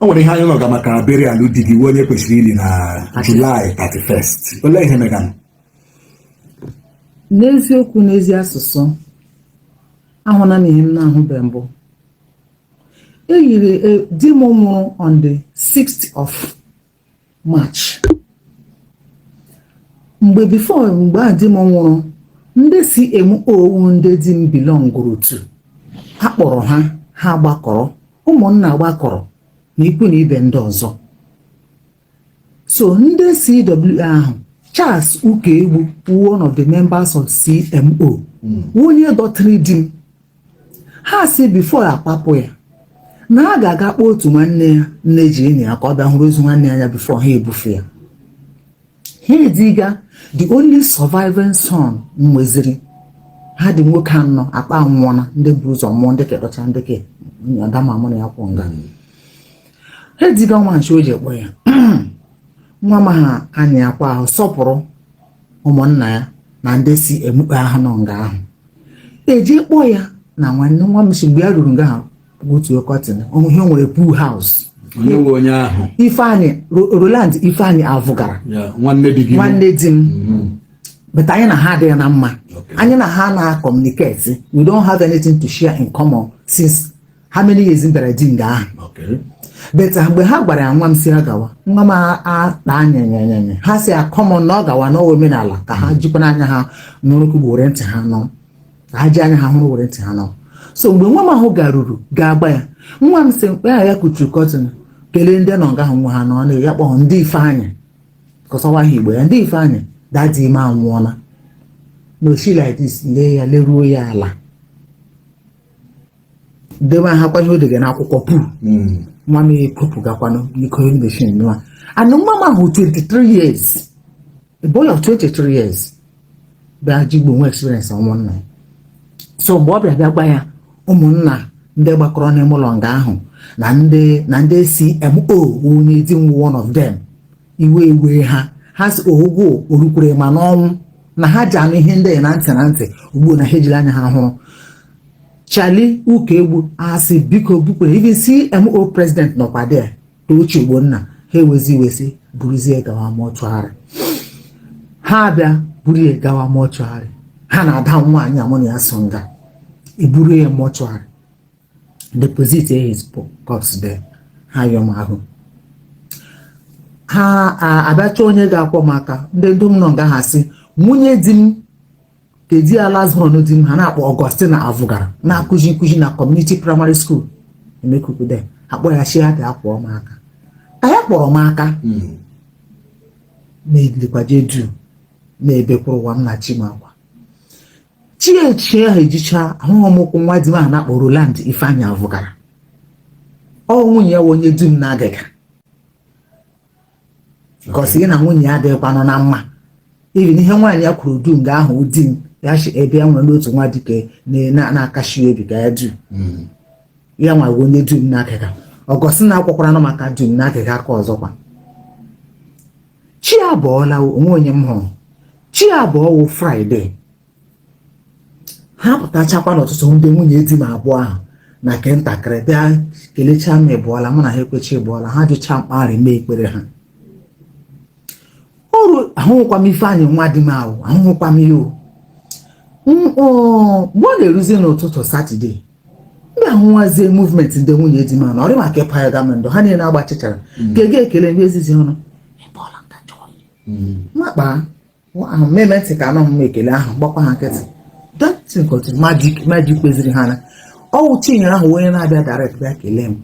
o nwere ihe anyị nụga maka burial di gị wụ onye kwesịrị ili na July 31st olee ihe meganụ n'eziokwu n'ezi asụsụ ahụna m ihe m na-ahụbe mbụ eyiri di m nwụrụ on the 6th of March mgbe before mgbe a di m nwụrụ ndị CMO wụ ndị di m belongụrụ to a kpọrọ ha ha gbakọrọ ụmụnna gbakọrọ na ikwu na ibe ndị ọzọ so ndị CWO ahụ Charles Ukaegbu wụ one of the members of CMO wụ onye dọtịrị di m ha sị before akpapụ ya na ha ga-aga kpọọ otu nwanne ya nne ji enyi ya ka ọ bịa hụrụ ozu nwanne ya before ha ebufe ya ha eziga the only surviving son m nweziri ha dị nwoke anọ akpa nwụọna ndị bu ụzọ mụọ ndị kedọcha ndị ke ada m a mụ na ya kwụ nga ha eziga nwa m sị o jee kpọọ ya nwa m ahụ anya akwa ahụ sọpụrụ ụmụnna ya na ndị CMO ke ahụ nọ nga ahụ ejee kpọọ ya na nwanne nwa m sị mgbe ya ruru nga ahụ otu kọtin ihe o nwere pool house onye wụ onye ahụ ifeanyị Ro- roland ifeanyị avụgara ya nwanne di gị nwanne di m Mhm. but anyị na ha adịghị na mma Okay. anyị na ha na-akọmuniketi we don't have anything to share in common since how many years m bịara di nga ahụ Okay. but mgbe ha gwara ya nwa m sị ya gawa nwa m akpa anyanyanyanya ha sị ya come on na ọ gawa n'ọ wụ omenala ka ha jikwanụ anya ha n'ụrụkụ bụ were ntị ha nụ ka ha ji anya ha hụrụ were ntị ha nụ so mgbe nwa m ahụ garuru gaa gwa ya nwa m sị mgbe ya kuchiri kọtịn kelee ndị nọ nga ahụ nga ha nọ na ya kpọọ dee ifeanyị cause ọ wụ aha igbo ya dee ifeanyị daddy m anwụọla na o shi like this lee ya leruo ya ala debehakwa ihe o dega n'akwụkwọ pool nwa m ekopụgakwanụ iko emeshin nwa and nwa m ahụ 23 years a boy of 23 years bịa ji gboo nwee experience ọnwụ nna ya so mgbe ọ bịa bịa gwa ya ụmụnna ndị gbakọrọ n'ime ụlọ nga ahụ na ndị na ndị CMO wụ onye di m wụ one of them iwe ewee ha ha sị ọ wụ o rukwere ma n'ọnwụ na ha ji anụ ihe ndị a na ntị na ntị ugbu na ha ejiri anya ha hụrụ Charlie Ukaegbu asị biko bukwere even CMO president nọkwa there Tochi Ogbonna ha ewezi iwe sị buruzie gawa mọchụarị ha abịa buru ya gawa mọchụarị ha na ada m nwaanyị a mụ na ya so nga eburu ya mọchụarị deposit his corpse there ha yọọ m ahụ ha abịacha onye ga-akwọ m aka ndị ndom nọ nga ahụ sị nwunye di m ke di ya last born di m ha na-akpọ Augustine Avugara na-akụzi nkụzi na community primary school Emekuku there akpọ ya sị ya ka akwọ m aka ka ya kpọrọ m aka na-edikwaje du na-ebekwuru ụwa m na chi m akwa chi echi ahụ ejicha ahụghị m ụkwụ nwa di m a na-akpọ Roland Ifeanyị Avugara ọ nwunye ya wụ onye du m na-agaga gosi gị na nwunye ya adịghịkwanụ na mma even ihe nwaanyị ya kwuru dum nga ahụ di m ya si ebe ya nwere n'otu nwa dike na-akashi obi ga ya du m ya nwa onye du m na-agaga Augustine akwọkwara m aka du m na-agaga aka ọzọkwa chi abọọla o nwe onye m hụrụ chi abọọ wụ Friday ha pụtachakwa n'ụtụtụ ndị nwunye di m abụọ ahụ na nke ntakịrị bịa kelechaa m ịbọọla mụ na ha ekwechi ịbọọla ha jụcha m kpa ahụ rị m ekpere ha ọrụ ahụhụkwa m Ifeanyị nwa di m ahụ ahụhụkwa m ihe o. M- ọ, mgbe ọ na-eruzi n'ụtụtụ Saturday m bịa hụwazie movement ndị nwunye di m ahụ na ọ rị m ka ịpa ya gama ndụ ha niile agbachichara m ga-ege ekele m ezizi ọnụ makpa mm. ahụ mmeme ntị ka anụ m ekele ahụ gbakwa ha nkịtị datin kọtụ maji kweziri ha na ọ wụ Chinyere ahụ wụ onye na-abịa direct bịa kelee m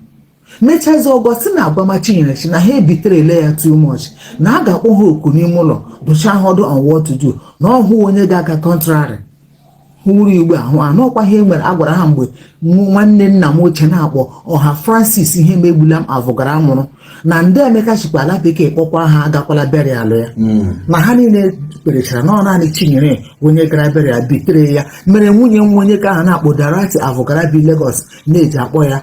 mechazi Augustine agwama Chinyere si na ha ebitere ele ya too much na a ga-akpọ ha oku n'ime ụlọ dụcha ha ọdụ on what to do na ọhụ onye ga-aga contrary hụrụ igbe ahụ anụ ọkwa ihe nwere a gwara ha mgbe mụ nwanne nna m ochie na-akpọ ọha Francis Ihemegbulam Avugara nwụrụ na ndị Emeka sikwa ala bekee kpọkwa ha agakwala burial ya na ha niile kwerechara na ọ naanị Chinyere onye gara burial bitere ya mere nwunye nwa onye ke ha na-akpọ Dorothy Avugara bi Lagos na-eji akpọ ya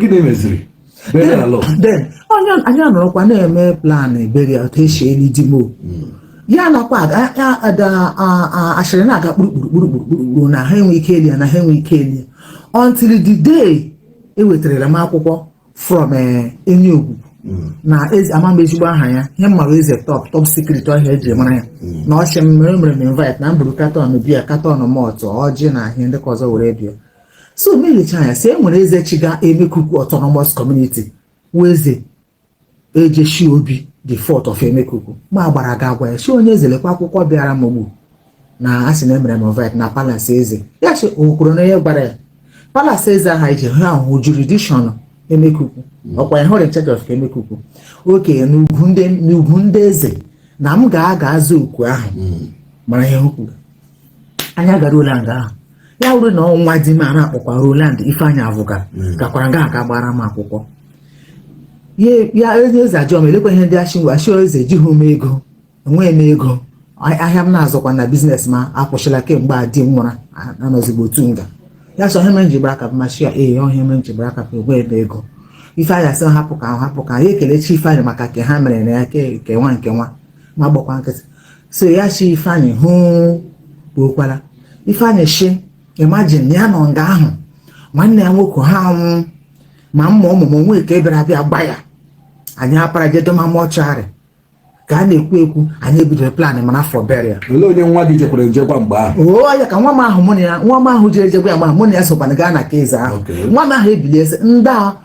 gịnị meziri onye anyị anọrọkwa na-eme plan burial otu esi eli di m hmm. ya nakwa asịrị na-aga kpurukpurukpurukpurukpuru na ha enwe ike eli ya na ha enwe ike eli ya until the day ewetarala m akwụkwọ from eh, Enyiogugu hmm. na ama m ezigbo aha ya ihe m mara eze top top secret ọ ya e ji mara ya hmm. na ọchị m mere mere m invite na m buru carton beer carton malt ọjị na ihe ndị ka ọzọ were bịa so m elecha anya si e nwere eze chịga Emekuku autonomous community wụ eze Ejeshi Obi the fourth of Emekuku m agbara ga agwa ya si onye eze lekwa akwụkwọ bịara m ugbu na a sị na emere m invite na palace eze ya si okwuru na onye gbara ya palace eze aha ije ha ahụ jurisdiction Emekuku ọkwa ya hụrụ in charge of Emekuku oke n'ugwu ndị eze na m ga-aga aza oku ahụ mara ihe o kwuru anyị agaruole nga ahụ ya wụrụ na ọ nwa di m a na-akpọkwa Roland Ifeanyị Avụga gakwara nga ahụ ga gbara m akwụkwọ ya ya onye eze ajụọ m elekwa ihe ndị achịnwe achịọ eze ejighị m ego enweghị m ego a- ahịa m na-azụkwa na business m a akwụsịla kemgbe a di m nwụra a- anọzigbo otu nga ya sị ọ ihe mere m ji gbara aka bịa m ashi ya ee ọ ihe mere m ji gbara aka bịa enweghị m ego Ifeanyị asị m hapụ ka ahụ hapụ ka ahụ ya ekelechi Ifeanyị maka ke ha mere na ya ke nke nwa nke nwa m agbakwa nkịtị so ya si ifeanyị ị hụkwala ifeanyị shi imagine ya nọ nga ahụ nwanne ya nwoke ha anwụ ma mma ụmụmụ nwe ka ebere abịa gba ya anyị apara jedoma mortuary ka a na-ekwu ekwu anyị ebidoro plan mana for burial olee onye nwa gị jekwara je gwa mgbe ahụ oo ya ka nwa m ahụ mụ na ya nwa m ahụ jere je gwa ya ma mụ na ya sokwana gaa na nke eze ahụ nwa m ahụ ebilie sị ndị a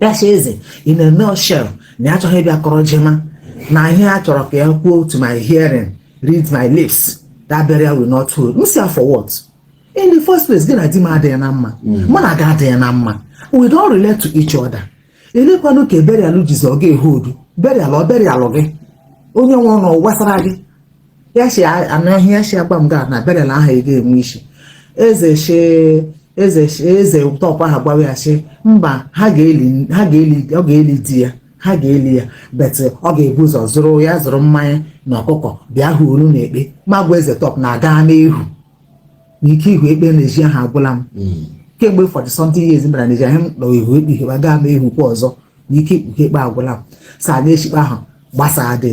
ya si eze ị na-eme oshel na ya achọghị ịbịa kọrọ jema na ihe ya chọrọ ka ya kwuo to my hearing read my lips that burial will not hold m si ya for what in the first place gị na di m adịghị na mma mụ na gị adịghị na mma we don't relate to each other elekwanụ ka burial jizi ọ ga-ehodu burial ọ burial gị onye nwụrụ ọ gbasara gị ya si anụ ihe ya si agwa m gị na burial ahụ ị ga-enwe isi eze shi eze shi eze tọpụ ahụ gbawa ya sị mba ha ga-eli ha ga-eli ọ ga-eli di ya ha ga-eli ya but ọ ga-ebu ụzọ zụrụ ya zụrụ mmanya na ọkụkọ bịa hụ olu na ekpe m agwa eze tọpụ na-aga n'ihu na ike ihu ekpe n'ezi ahụ agwụla m kemgbe forty something years m bara n'ezi ahụ m nọ ihu ekpe ihe gaa ma ihu kwa ọzọ na ike ikpuke ekpe agwụla m sa na-echi ikpe ahụ gbasaa dị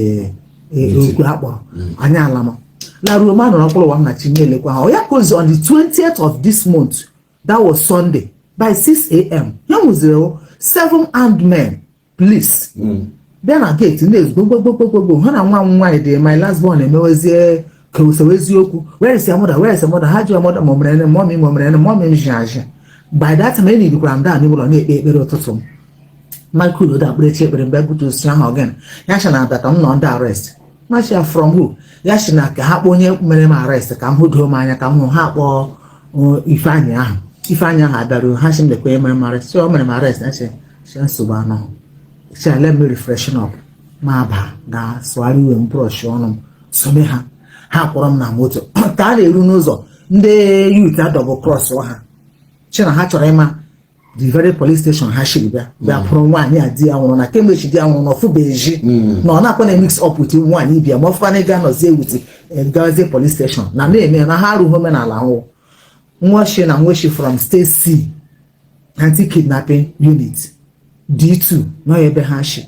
okwu ha kpọrọ anyị alama laruo m anọrọ mkpụrụ ụwa m na chi na-elekwa ha ọ ya ka ozi on the 20th of this month that was sunday by 6 am ya wụziri o seven armed men police bịa na gate na-esu gbo gbogbogbogbogbò ha na nwa m nwaanyị dị my last born emewezie ka osewe eziokwu where is your mother where is your mother ha ji mother m o mere gịnị mummy m o mere gịnị mummy m ji aji by that time enyi dịkwara m daa n'ime ụlọ na-ekpe ekpere ụtụtụ m Michael Odo akpere chi ekpere m gbapụta sị ha ọ gịnị ya sị na abịa ka m nọ under arrest m ashi ya from who ya sị na ka ha kpọọ onye mere m arrest ka m hụ doo m anya ka m hụ ha kpọọ uh, ifeanyị ahụ ifeanyị ahụ abịaruo ha sị m lekwa onye mere m arrest sị o mere m arrest na sị sị nsogbu anọghị sị let me refreshen up m abaa ga sụgharị uwe m brush ọnụ m some ha ha kwọrọ m na moto ka a na-eru n'ụzọ ndị youth adouble cross ha shi na ha chọrọ ịma the very police station ha shiri bịa bịa kpụrụ nwaanyị a di ya nwụrụ na kemgbe chi di ya nwụrụ na ọ fụbeghị ezi na ọ na-akwa na mix up with nwaanyị ibe ya ma ọ fọkwa na ịga nọzie wit gazie police station na na-eme na ha arụghị omenala ahụ nwa shi na nwa shi from state c anti-kidnapping unit D2 nọ ebe ha shi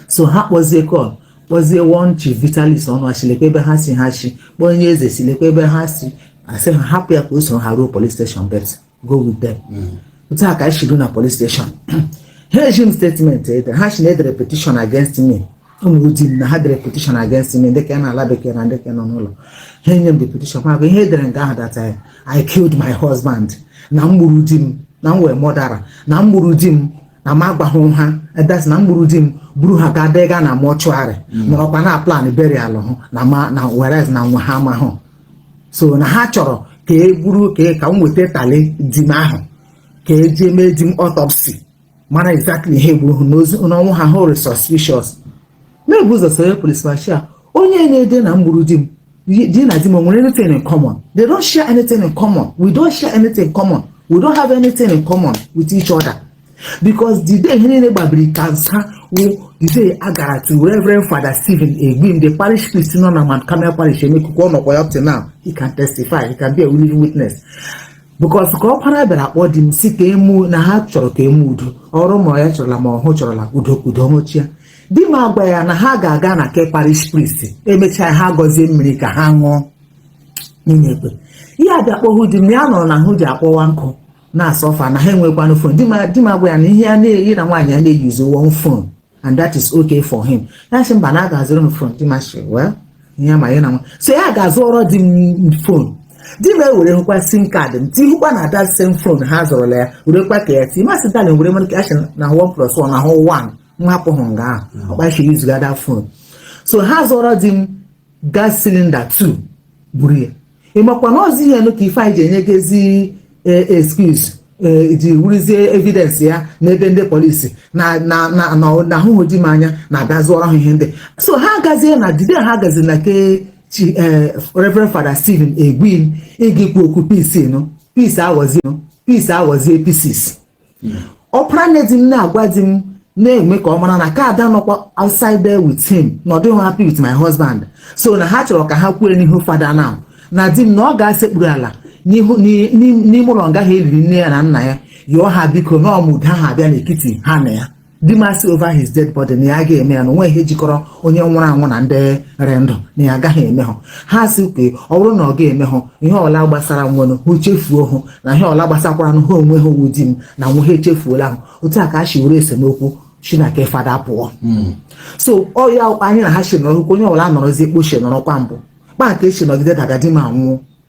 so ha kpọzie call kpọzie one chief Vitalis Ọnụ a shi lekwa ebe ha si ha shi kpọọ onye eze si lekwa ebe ha si asị ha hapụ ya ka o soro ha ruo police station but go with them mm. otu a ka anyị shi ruo na police station ha eji m statement ede ha shi na e dere petition against me o nwere di na ha dere petition against me dịka na ala bekee na dịka nọ n'ụlọ ha enye m the petition ma ihe e dere nke ahụ that I killed my husband na m gburu di m na m wụ murderer na m gburu di m na m agwaghị ha that's na m gburu di m buru ha gaa dega na mortuary mm. nọrọkwa na plan burial hụ na ma na whereas na nwa ha amahụ so na ha chọrọ ka e buru ka e, ka m weta tally di m ahụ ka e ji mee di m autopsy mara exactly ihe gburu ha n'ozi n'ọnwụ ha hụrụ suspicious mere bu ụzọ sere police machia onye na-ede na m gburu di m di na di m nwere anything in common they don't share anything in common we don't share anything in common we don't have anything in common with each other because the day ihe niile gbabiri cancel wụ the day a gara to Reverend Father Stephen Egbim the parish priest nọ na Mount Carmel parish Emekuku ọ nọkwa ya up to now he can testify he can be a living witness because ka ọkpara bịara kpọọ di m sị ka e mee na ha chọrọ ka e mee udo ọrụ ma ya chọrọla ma ọhụ chọrọla udo ka udo nwụchia di m agwa ya na ha ga-aga na ke parish priest e mechaa ha gọzie mmiri ka ha ṅụọ n'ime ekpe ihe abịa kpọhụ di m ya nọrọ na ahụ ji akpọwa nkụ na so far na ha enwekwanụ phone di m di m agwa ya na ihe a na ya na nwaanyị ya na-eyuzi one phone and that is okay for him ya sị mba na a ga-azụrụ m phone di m asị well ihe ma ya na nwa so ya ga-azụọrọ di m phone di m ewere hụkwa sim card m tihụkwa na that same phone ha zụrụla ya werekwa ka ya ti ma sị darling were mere ka a sị na one plus one na hụ one nwa hapụ hụ nga ahụ ọkpachi yuzuga that phone so ha zụọrọ di m gas cylinder 2 buru ya ị makwa na ozi ihe nụ ka ife anyị ji enyegezi excuse Eh, ji wụrụzie evidence ya n'ebe ndị police na na na na a hụrụ di m anya na-abịa zụọrọ ha ihe ndị so ha agazie na the day ha gazi na ke chi eh, Reverend Father Stephen Egbim ịga ikwu okwu peace nụ peace aghọzie nụ peace aghọzie pieces ọpara nne di m na-agwa di m na-eme ka ọ mara na ka ada nọkwa outside there with him na ọ dịghị happy with my husband so na ha chọrọ ka ha kwuo n'ihu fada now na di m na ọ ga-asekpuru ala n'ihu- n'i- n'i- n'ime ụlọ nga ahụ e liri nne ya na nna ya yọọ ha biko na ọmụda ha abịa n'etiti ha na ya di m asị over his dead body na ya ga-eme ya na o nwe ihe jikọrọ onye nwụrụ anwụ na ndị rị ndụ na ya agaghị eme ha ha sị ka ọ bụrụ na ọ ga-eme ha ihe ọla gbasara nwere hụ chefuo hụ na ihe ọla gbasakwara ha onwe ha ọ wụ di m na nwe ha echefuola ahụ otu a ka a si were esemokwu shi na ke fada pụọ hmm. so ọ ya anyị na ha si nọrọ onye ọbụla nọrọzie kpochie nọrọkwa mbụ kpa nke si nọgide daga di m anwụọ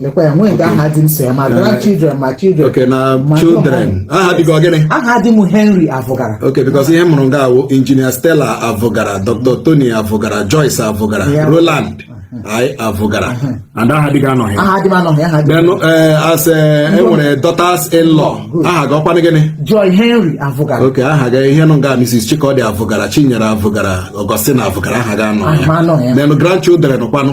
lekwa ya nwee nke aha di m so ya ma grandchildren ma children okay na ma children Johan. aha di gị ọ gịnị aha di m henry avụgara okay because ihe m hụrụ nga awụ engineer stella avụgara dr tony avụgara joyce avụgara Yeah. roland avụgara and aha di gị anọghị aha di m anọghị aha di m then eh, as eh, e nwere daughters in law aha gị ọkwanụ gịnị joy henry avụgara okay aha gị ihe nọ nga mrs chikọdị avụgara chinyere avụgara augustine avụgara aha gị anọghị ya then grandchildren kwanụ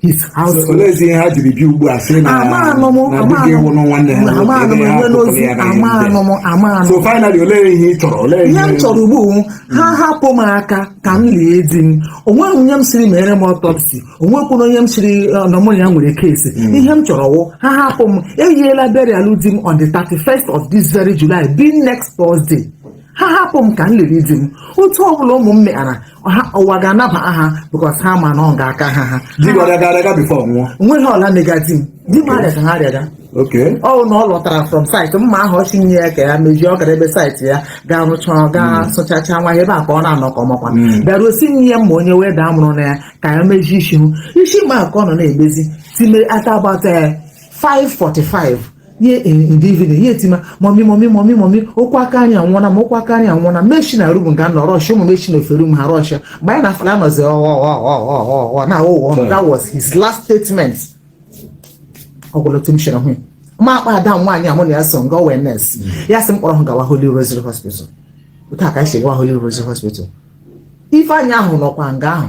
his house So, olezi ihe ha jiri bịa ugbu a sị na amaanụ m na di gị nwụrụ nwanne ha nwoke, amaanụ m ebe ha enwe tụtụrụ n'ozi ya na ya amaanụ m amaanụ so finally olee ihe ị chọrọ olee ihe m chọrọ ugbu a wụ, ha hapụ m aka ka m lie di m onweghị onye m sịrị meere m autopsy onwekwuru onye m sịrị eh, na mụ na ya nwere case ihe m chọrọ wụ ha hapụ m eyiela burial di m on the 31st of this very July being next Thursday ha hapụ m ka m liri di m otu ọbụla ụmụ m meghara ha ụwa ga-anaba ha because ha ma na ọ ga-aka ha ha di gị ọrịa gara aga before nwụọ nweghị ọrịa mega di m di m arịa ka ha arịaga okay ọ bụ na ọ lọtara from site mma ahụ ọ sị nye ya ka ya mejie ọ gara ebe site ya gaa rụchaa gaa sụchacha nwa ya ebe a ka ọ na-anọ ka ọmakwa bịaruo sị nye ya mma onye wee daa mụrụ na ya ka ya mejie isi hụ isi mma ka ọ nọ na-emezi time ata about 5:45 ihe in the evening ya etima mummy mummy mummy mummy okwu aka anyị anwụọna ma okwu aka anyị anwụọna m eshi na room nga m nọ rush ụmụ m eshi na ofe room ha rush mgbe anyị na-afala anọzi ọghọghọghọghọghọ na ụghọ that was his last statement ọgwụlọtụ m shere hụ ya. m akpọọ ada m nwaanyị a mụ na ya so nga wụ nurse ya sị m kpọrọ ha gawa Holy Rosary Hospital otu a ka anyị si gawa Holy Rosary Hospital ifeanyị ahụ nọkwa nga ahụ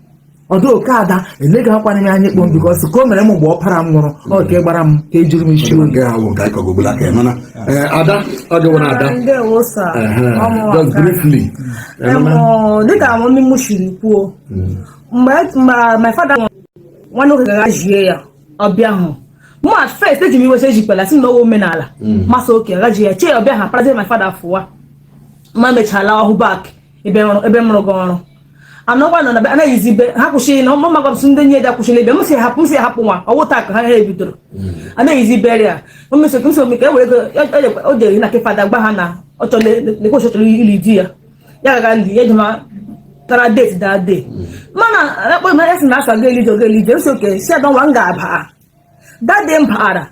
ọdụ okay ada eleghị akwana m anya kpọm because ka o mere m mgbe ọpara m nwụrụ ọ ka ị gbara m ka e jiri m isi oyi nke ahụ nke anyị kọgogolo aka ya mana ee, ada ọ gị nwere ada ndewo sa Ehe, ọmụwa just nka. briefly Ee, mana- Em, dịka mummy m siri kwuo mgbe mgbe my father nwụrụ, nwanne nwoke gara jie ya ọbịa ahụ mụ at first eji m iwe sị ejikwala si na ọ wụ omenala m asị okay gaji ya chee ọbịa ha parazie my father fụwa ma mechala ọhụ back ebe ọrụ ebe m rụga ọrụ anọkwa nọ na anaghịzi ibe ha kwụsịrị na ọmụma gọbsị ndị nye da kwụsịrị ebe m si hapụ m si hapụ nwa ọwụ taa ka ha ha ebidoro anaghịzi ibere ya omesokị m somi ka e were ego o jere na ke fada gba ha na ọ chọrọ lekwa ọ chọrọ ili di ya ya gaga ndị ya ejema tara date that day mana akpọ m esi na asa ga elije oge elije m sị okay sị adọ nwa m ga-abịa that day m bịara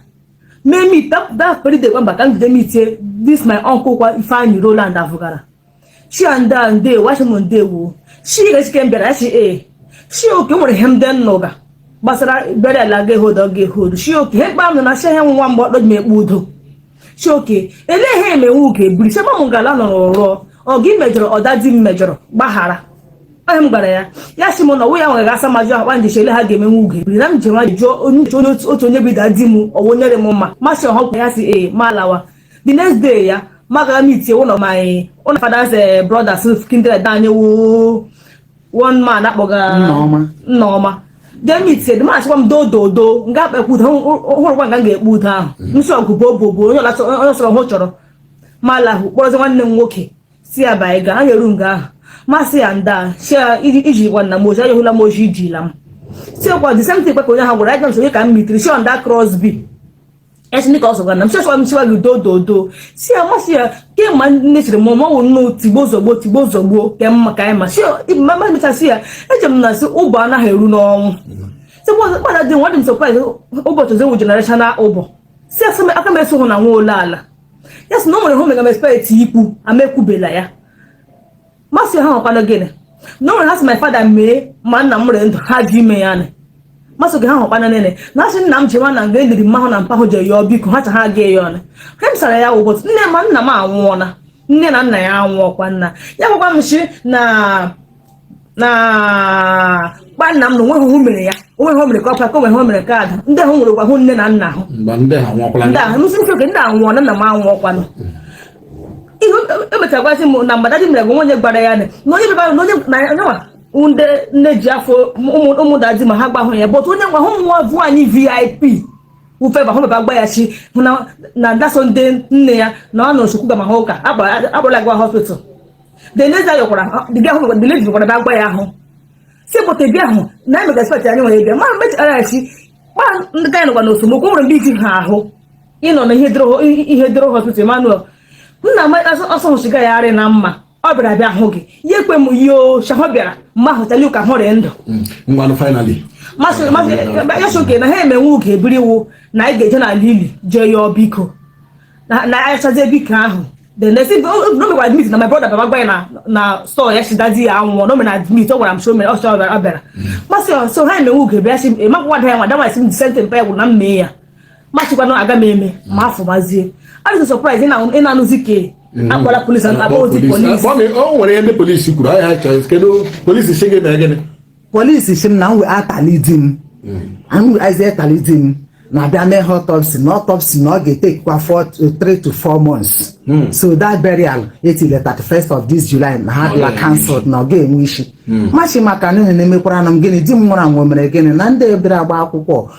mee meet that very day gwa mba ka m jide meetie this my uncle kwa ifeanyi roland avụgara sị ya nda ndewo asị m ndewo chiechike mbịara asị e sị okay nwere ihe ndị m nụga gbasara burial ga e-hold ga e-hold sị okay ihe mkpa m nọ na chi ihe nwa mgbe ọkpọ ji ekpe udo sị okay elee ihe emenwe uke biri chema m gala nọrọ rụọ ọ gị mejọrọ ọ daddy m mejọrọ gbaghara onye m gwara ya ya si m na ọwụ ya nwere asa majụ akpa nje chele ha ga-emenwe ugo ebiri na m ji nwa jụọ onye uche onye otu onye be daddy m ọwụ nyere m mma m asị ọhọkwa ya si ee ma alawa the next day ya m aga meet one of my one of father's uh, brothers kindred anyị woo one man akpọga Nneọma jee meet the man sịkwa m do do do nga akpa ekwu ụda hụrụkwa nga m ga-ekpe udo ahụ mm. nsọ ọgụ bụ obo bụ onye ọsọrọ hụ chọrọ ma lahụ kpọrọzi nwanne m nwoke si ya ba anyị ga anyị eru nga ahụ m asị ya nda si ya iji gwa nna m ozi anyị hụla m ozi izila m si ọkwa the same thing kpekọ onye ha gwara anyị ga m sonye ka m meetiri si on that cross bi esi ndị ka ọ sọgwa na m sịsịwa m sịwa gị do do do si ya m asị ya kemgbe nne siri mụ mọwụ nnu tigbuo zọgbuo tigbuo zọgbuo ke mma ka anyị ma si ya ma ma mecha si ya eche m na si ụbọ anaghị eru n'ọnwụ si mụ kpara dị nwa dị m surprise ụbọchị ozi wụ generational ụbọ si ya sị m aka m eso hụ na nwa ole ala ya sị na o nwere hụ mega m expect ikwu ama ekwubela ya m asị ha ọkwanụ gịnị na ọ nwere ha sị my father mee ma nna m nwere ndụ ha ji ime ya nị m asị gị ha hụkwana nene na asị nna m ji nwa na nga eliri mma hụ na mpa hụ je yọọ biko ha cha ha ga ya ọnụ ha m sara ya ụbọchị nne ma nna m anwụọla nne na nna ya anwụọkwa nna ya gwakwa m si na na gba nna m na onweghị hụ mere ya onweghị hụ mere ka ọkwa ka onweghị hụ mere ka ada ndị ahụ nwere gwa hụ nne na nna ahụ ndị ahụ ndị ahụ nwụọla nna m anwụọkwanụ ihe emechagwazi m na mgbe daddy mere bụ onye gwara ya na onye bịara na onye na yanwa ndị nne ji afọ ụmụ daddy m ha agwahụ ya but onye nwa hụ nwa bụ anyị VIP ufe ba hụ bịa gwa ya sị hụ na na ndaso ndị nne ya na ọ nọ nsukwu ga ma ha ụka akpọrọla gwa hospital the lady ayọkwara the girl hụ the lady gwara bịa gwa ya ahụ si pụta bịa ahụ na emega expect anyị nwere bịa ma mechara ya chi kpa ndị ga anyị nọkwa n'osomokwu nwere mgbe iji ha ahụ ịnọ na ihe doro hospital Emmanuel nna m asọhụ shiga ya arị na mma ọ bịara bịa hụ gị ya ekwe m yoo shahụ bịara mma hụtali ụka hụrị ndụ ya sị okay na ha emenwe ụka ebiri iwu na anyị ga-eje n'ala ili jee yọọ biko na ayachazie biko ahụ then they say no no make admit na my brother bịa gwa ya na na store ya si daddy ya anwụ no me na admit ọ gwara m so mere ọ sọ ọ bịara m asị so ha emenwe ugo bịa si emakwa wada ya nwa dawa esi m disente mpa ya gwụ na mme ya machikwana aga m eme ma mm. afọ mazie adịsị surprise ị na-anụzi ka mm. akpọla polisi akpọ ozi polisi o nwere ihe ndị polisi kwuru ihe ha chọrọ kedu polisi sị gị na gịnị polisi sị m na nwe atali di m anwe azi atali di m na-abịa mee ha autopsy na autopsy na ọ ga-etekwa 3 to 4 months hmm. so that burial etile 31st of this July na ha dịla cancelled na ọ ga-enwe isi hmm. machi maka na ihe na-emekwara na m gịnị di m nwụrụ anwụ mere gịnị na ndị ebere agba akwụkwọ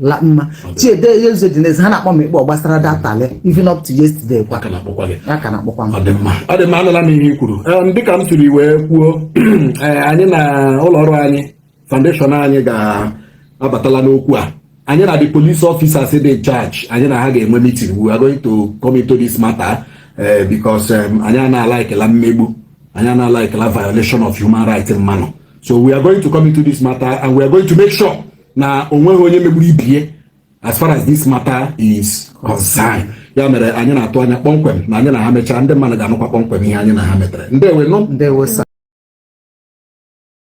la mma chiede ya ụzọ dị n'ezi ha na-akpọ m ikpọ gbasara datali even up to yesterday kwa a ka na-akpọkwa gị ya ka na-akpọkwa m ọ dị mma ọ dị mma anụla m ihe i kwuru Em, dịka m siri wee kwuo eh, anyị na ụlọ ọrụ anyị foundation anyị ga-abatala n'okwu a anyị na the police officers dị in charge anyị na ha ga-enwe meeting we are going to come into this matter eh, because em, anyị anaala ekela mmegbu anyị anaala ekela violation of human rights mmadụ so we are going to come into this matter and we are going to make sure na o nweghị onye megburu ibe ya as far as this matter is concerned ya mere anyị na-atụ anya kpọmkwem na anyị na ha mechaa ndị mmadụ ga-anụkwa kpọmkwem ihe anyị na ha metere ndewo nụ ndewo sir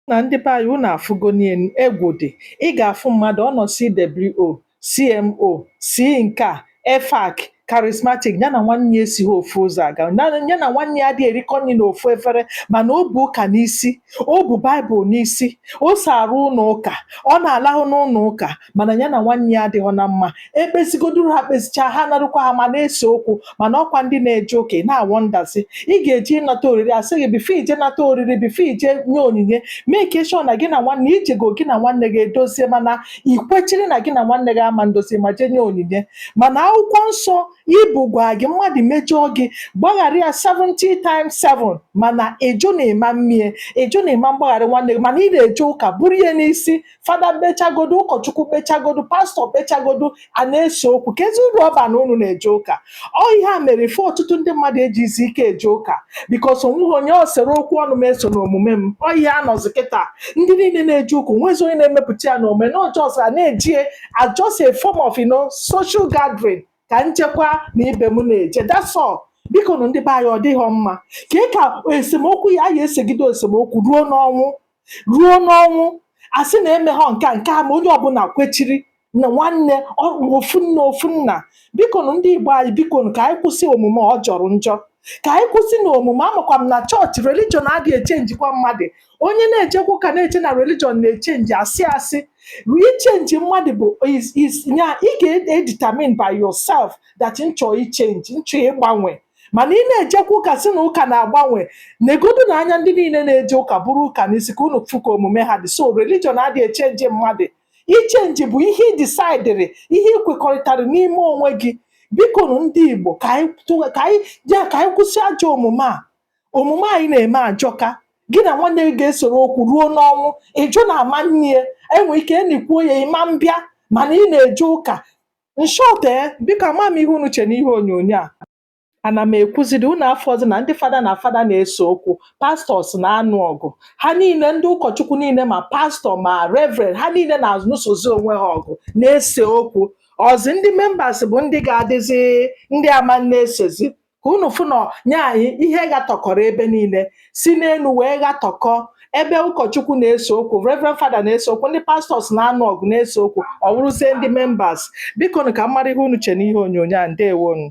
na ndị be anyị unu afụgonụ ya egwu dị ị ga-afụ mmadụ ọ nọ CWO CMO C nke a EFAC, Charismatic, ya na nwanne ya esighị ofu ụzọ aga. Na- Ya na nwanne ya adịghị erikọ nri n'ofu efere, mana o bu ụka n'isi, o bu Baịbụl n'isi, o so arụ ụlọ ụka, ọ na-alahụ n'ụlọ ụka, mana ya na nwanne ya adịghị na mma. Ekpezigoduru ha kpezichaa, ha narukwa ha ma na-ese okwu, mana ọkwa ndị na-eje ụka ị na-awọ ndazi. Ị ga-eje ịnata oriri a sị gị bifo i je nata oriri, bifo i je nye onyinye, make sure na gị na nwanne i jego gị na nwanne gị edozie mana i kwechiri na gị na nwanne gị ama ndozi ma jee nye onyinye mana akwụkwọ nsọ i bu gwa gị mmadụ mejọọ gị gbaghara ya 70 times 7 mana ị jụ na ị ma mme ya ị jụ na ị ma mgbaghara nwanne gị mana ị na-eje ụka buru ya n'isi fada kpechagodo ụkọchukwu kpechagodo pastọ kpechagodo a na-ese okwu keezi uru ọ ba na unu na-eje ụka ọ ihe a mere ife ọtụtụ ndị mmadụ ejizi ike eje ụka bikos o nweghị onye ọ soro okwu ọnụ m esona omume m ọ ihe a nọzi kịta ndị niile na-eje ụka o nwezi onye na-emepụta ya na omume na ọ just a na-eje ya as just a form of you know, social gathering ka njekwa na ibe m na-eje that's all bikonụ ndị be anyị ọ dịghị mma ka ị ka esemokwu ya a ya-esegide esemokwu ruo n'ọnwụ ruo n'ọnwụ a sị na e meghọ nke a nke a ma onye ọbụla kwechiri na nwanne ọ- ofu nna ofu nna bikonu ndị igbo anyị bikonu ka anyị kwụsị omume ọ jọrọ njọ ka anyị kwụsị na omume amakwa m na chọọchị religion adịghị echenjikwa mmadụ onye na-ejekwa ụka na-eche na religion na-echenji asị asị ichenji mmadụ bụ is- is- ya ị ga-edetermine by yourself that nchọ ichenji nchọ ịgbanwe mana ị na-ejekwa ụka sị na ụka na-agbanwe negodu nụ anya ndị niile na-eje ụka buru ụka n'isi ka unu fụ ka omume ha dị so religion adịghị echenji mmadụ ichenji bụ ihe ị disaidịrị ihe ị kwekọrịtara n'ime onwe gị biko nụ ndị Igbo ka anyị tụgha- ka anyị ya ka anyị kwụsị ajọ omume a omume anyị na-eme ajọka gị na nwanne gị ga-esoro okwu ruo n'ọnwụ ị jụ na a ma eni ya enwe ike e nikwuo ya ị ma mbịa mana ị na-eje ụka In short eh, biko ka m ma ihe unu che n'ihe onyonyo a. Ana m ekwuziri unu afụzi na ndị fada na fada na-ese okwu, pastọs na-anụ ọgụ. Ha niile, ndị ụkọchukwu niile ma pastọ ma reverend, ha niile na-anụsozi onwe ha ọgụ, na-ese okwu. Ọzi ndị members bụ ndị ga-adịzi ndị ama na-esezi. ka unu fụ na nya ihe ghatọkọrọ ebe niile si n'elu wee ghatọkọ ebe ụkọchukwu na-ese okwu reverend fada na-ese okwu ndị pastọs na-anụ ọgụ na-ese okwu ọ wụrụzie ndị members biko nụ ka m mara ihe unu che n'ihe onyonyo a ndewonu